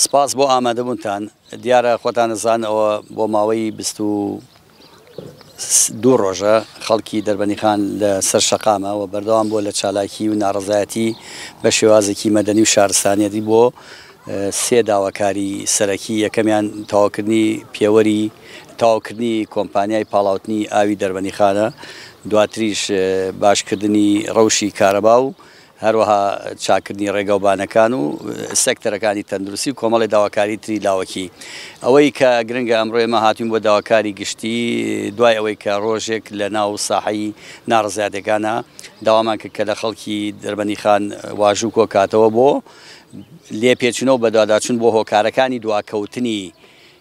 سپاس بۆ ئامادەبوونتان. دیارە خۆتان دەزان ئەوە بۆ ماوەی بیست و دوو ڕۆژە خەڵکی دەربەنیخان لە سەر شەقامە و بەردەوام بووە لە چالاکی و ناڕەزایەتی بە شێوازێکی مەدەنی و شارستانیەتی بۆ سێ داواکاری سەرەکی، یەکەمیان تەواوکردنی پێوەری تەواوکردنی کۆمپانیای پاڵاوتنی ئاوی دەربەنیخانە، دواتریش باشکردنی ڕەوشی کارەبا و هەروەها چاککردنی ڕێگاوبانەکان و سێکتەرەکانی تەندروستی و کۆمەڵێ داواکاری تری لاوەکی. ئەوەی کە گرنگە ئەمڕۆ ئێمە هاتووین بۆ داواکاری گشتی، دوای ئەوەی کە ڕۆژێک لە ناو ساحەی ناڕەزایەتیەکانا داوامان کرد کە لە خەڵکی دربەندیخان واژوو کۆکاتەوە بۆ لێپێچینەوە بەدواداچوون بۆ هۆکارەکانی دواکەوتنی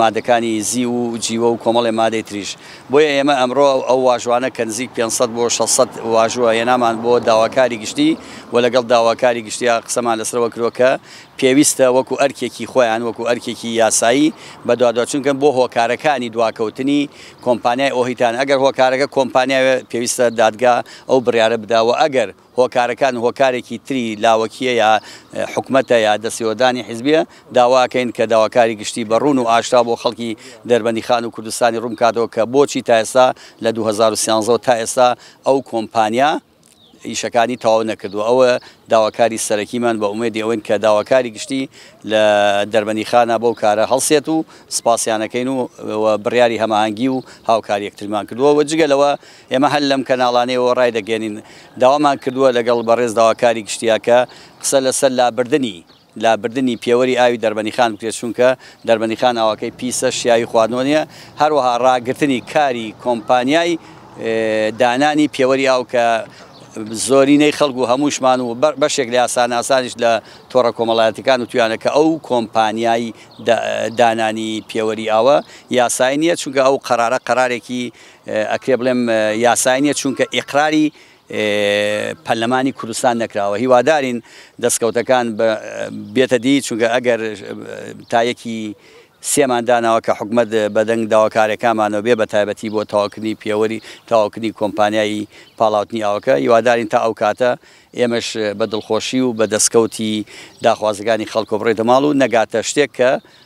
مادەکانی زیو و جیوە و کۆمەڵێ مادەی تریش. بۆیە ئێمە ئەمڕۆ ئەو واژوانە کە نزیک پێنج سەد بۆ شەش سەد واژووە هێنامان بۆ داواکاری گشتی و لەگەڵ داواکاری گشتیا قسەمان لەسەرەوە کردووە کە پێویستە وەکو ئەرکێکی خۆیان وەکو ئەرکێکی یاسایی بەدواداچونکەن بۆ هۆکارەکانی دواکەوتنی کۆمپانیای ئۆهیتان ئەگەر هۆکارەکە کۆمپانیاوێ پێویستە دادگا ئەو بڕیارە بدا و ئەگەر هۆکارەکان هۆکارێکی تری لاوەکیە یا حکومەتە یا دەستێوەردانی حیزبیە، داواکەین کە داواکاری گشتی بە ڕوون و ئاشکرا بۆ خەڵکی دەربەندیخان و کوردستانی ڕوون بکاتەوە کە بۆچی تا ئێستا لە دوو هەزار و سیانزە تا ئێستا ئەو کۆمپانیا ئیشەکانی تەواو نەکردووە ئەوە داواکاری سەرەکیمان بە ئومێدی ئەوەین کە داواکاری گشتی لە دەربەندیخانە بەو کارە هەڵسێت و سپاسیانەکەین و بڕیاری هەماهەنگی و هاوکاری یەکترمان کردووە و جگە لەوە ئێمە هەر لەم کەناڵانەیەوە ڕایدەگەیەنین، داوامان کردووە لەگەڵ بەڕێز داواکاری گشتییاکە قسە لەسەر لابردنی لابردنی پێوەری ئاوی دەربەنیخان بکرێت، چونکە دەربەنیخان ئاوەکەی پیسە شیاوی خواردنەوە نییە، هەروەها ڕاگرتنی کاری کۆمپانیای دانانی پێوەری ئاو کە زۆرینەی خەڵک و هەمووشمان و بەشێک لە یاساناسانیش لە تۆڕە کۆمەڵایەتیەکان وتویانە کە ئەو کۆمپانیای دانانی پێوەری ئاوە یاسایی نییە، چونکە ئەو قەرارە قەرارێکی ئەکرێ بڵێم یاسایی نیە چونکە ئیقراری پەرلەمانی کوردستان نەکراوە هیوادارین دەستکەوتەکان بێتە دی چونکە ئەگەر تایەکی سێمان داناوە کە حکومت بەدەنگ داواکارەکانمانەوە بێ بە تایبەتی بۆ تاواکردنی پێوەری تاواکردنی کۆمپانیایی پاڵاوتنی ئاوەکە هیوادارین تا ئەو کاتە ئێمەش بە دڵخۆشی و بە دەستکەوتی داخوازەکانی خەڵکۆ بڕێتە ماڵ و نەگاتە شتێک کە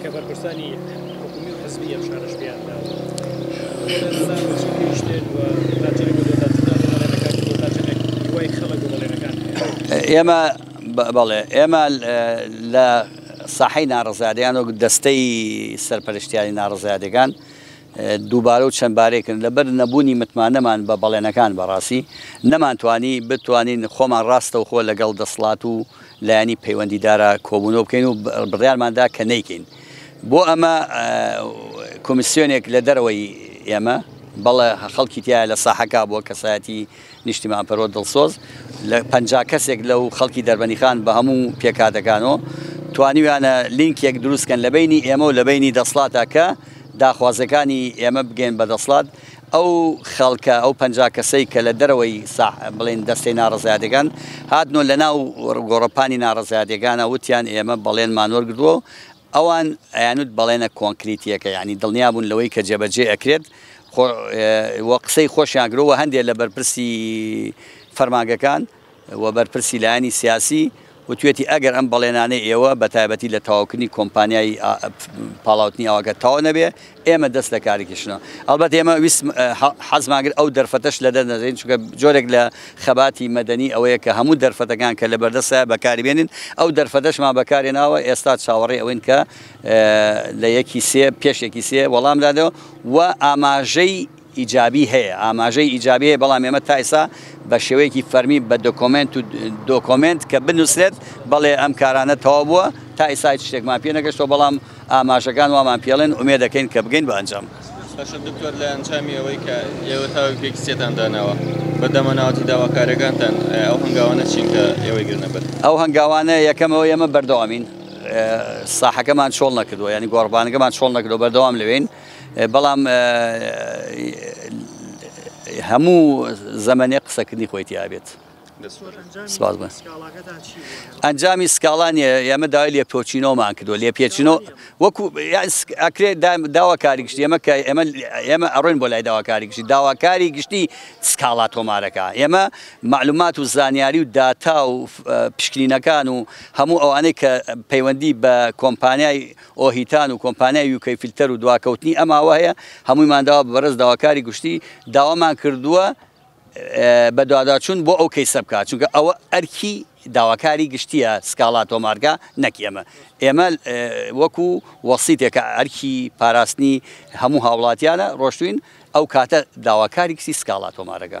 کە بەرپرسانی حکومی و حزبی ئەم شارەش پێیان داوە بڵێن زان و چی گەیشتێت و تا چەنێک بۆ دۆتا جودا بۆ بەڵێنەکان و دۆتا چەنێک هیوای خەڵک بۆ بەڵێنەکان هەیە؟ ئێمە بەڵێ ئێمە لە ساحەی ناڕەزایەتیان وەک دەستەی سەرپەرشتیاری ناڕەزایەتیەکان دووبارە و چەند بارەی کردن لەبەر نەبوونی متمانەمان بە بەڵێنەکان بەڕاستی نەمانتوانی بتوانین خۆمان ڕاستەوخۆ لەگەڵ دەسڵات و لایەنی پەیوەندیدارە کۆبوونەوە بکەین و بڕیارمان دا کە نەیکەین. بۆ ئەمە کۆمیسیۆنێک لە دەرەوەی ئێمە، بەڵێ خەڵکی تیایە لە ساحەکە بووە، کەسایەتی نیشتیمانپەروەر دڵسۆز، لە پەنجا کەسێک لەو خەڵکی دەربەنیخان بە هەموو پێکهاتەکانەوە، توانیویانە لینکێک دروست بکەن لە بەینی ئێمە و لە بەینی دەسڵاتە کە داخوازییەکانی ئێمە بگەیەن بە دەسڵات. ئەو خەڵکە، ئەو پەنجا کەسەی کە لە دەرەوەی ساح بڵێین دەستەی ناڕەزایەتیەکان هاتن و لە ناو گۆڕەپانی ناڕەزایەتیەکانە وتیان ئێمە بەڵێنمان وەرگرتووە و ئەوان ئەیانوت بەڵێنە کۆنکریتیەکە یانی دڵنیا بوون لەوەی کە جێبەجێ ئەکرێت و قسەی خۆشیان کرد و هەندێک لە بەرپرسی فەرمانگەکان و بەرپرسی لایەنی سیاسی وتویەتی ئەگەر ئەم بەڵێنانەی ئێوە بە تایبەتی لە تەواوکردنی کۆمپانیای ئا پاڵاوتنی ئاوەکە تەواو نەبێ ئێمە دەست لە کارەکیشنەوە ئەڵبەت ئێمە ویست حەزماگر ئەو دەرفەتەش لە دەنەدەین چونکە جۆرێک لە خەباتی مەدەنی ئەوەیە کە هەموو دەرفەتەکان کە لە بەردەستە بەکاری بێنین ئەو دەرفەتەشمان بەکارێ ناوە ئێستا چاوەڕێ ئەوەین کە لە یەکی سێ پێش یەکی سێ وەڵام دادەوە و ئاماژەی ئیجابی هەیە، ئاماژەی ئیجابی هەیە، بەڵام ئێمە تا ئێستا بە شێوەیەکی فەرمی بە دۆکۆمێنت و دۆکۆمێنت کە بنووسرێت بەڵێ ئەم کارانە تەواو بووە، تا ئێستا هیچ شتێکمان پێ نەگەشتووە، بەڵام ئاماژەکان وامان پێ ئەڵێن، ئومێد ئەکەین کە بگەین بە ئەنجام. باشە دکتۆر لە ئەنجامی ئەوەی کە ئێوە تاوێک پێکستیتان داناوە بە دەمەناوەتی داواکارەکانتان ئەو هەنگاوانە چین کە ئێوەی گرنە بەر؟ ئەو هەنگاوانە یەکەم ئەوەی ئێمە بەردەوامین ساحەکەمان چۆڵ نەکردووە یانی گۆڕەپانەکەمان چۆڵ نەکردووە بەردەوام لەوێین. بەڵام هەموو زەمەنێ قسەکردنی خۆی تیابێت ئەنجامی سکاڵان ئێمە داوای لێ پۆچینۆمان کردو لێ پێچینۆ وەکو ئەکرێت داواکاری گشتی ئێمە کە ئێمە ئێمە ئەڕۆین بۆ لای داواکاری گشتی داواکاری گشتی سکاڵا تۆمارەکە ئێمە معلومات و زانیاری و داتا و پشکنینەکان و هەموو ئەوانەی کە پەیوەندی بە کۆمپانیای ئۆهیتان و کۆمپانیای یوکەی فیلتەر و دواکەوتنی ئەم ئاوە هەیە هەموویمان داوا بە بەڕێز داواکاری گشتی داوامان کردووە بەدواداچوون بۆ ئەو کەیسە بکات چونکە ئەوە ئەرکی داواکاری گشتیە سکاڵا تۆمارگا نەک ئێمە ئێمە وەکو وەسیتێکە ئەرکی پاراستنی هەموو هاوڵاتیانە ڕۆشتوین ئەو کاتە داواکاری کچی سکاڵا تۆمارەکە.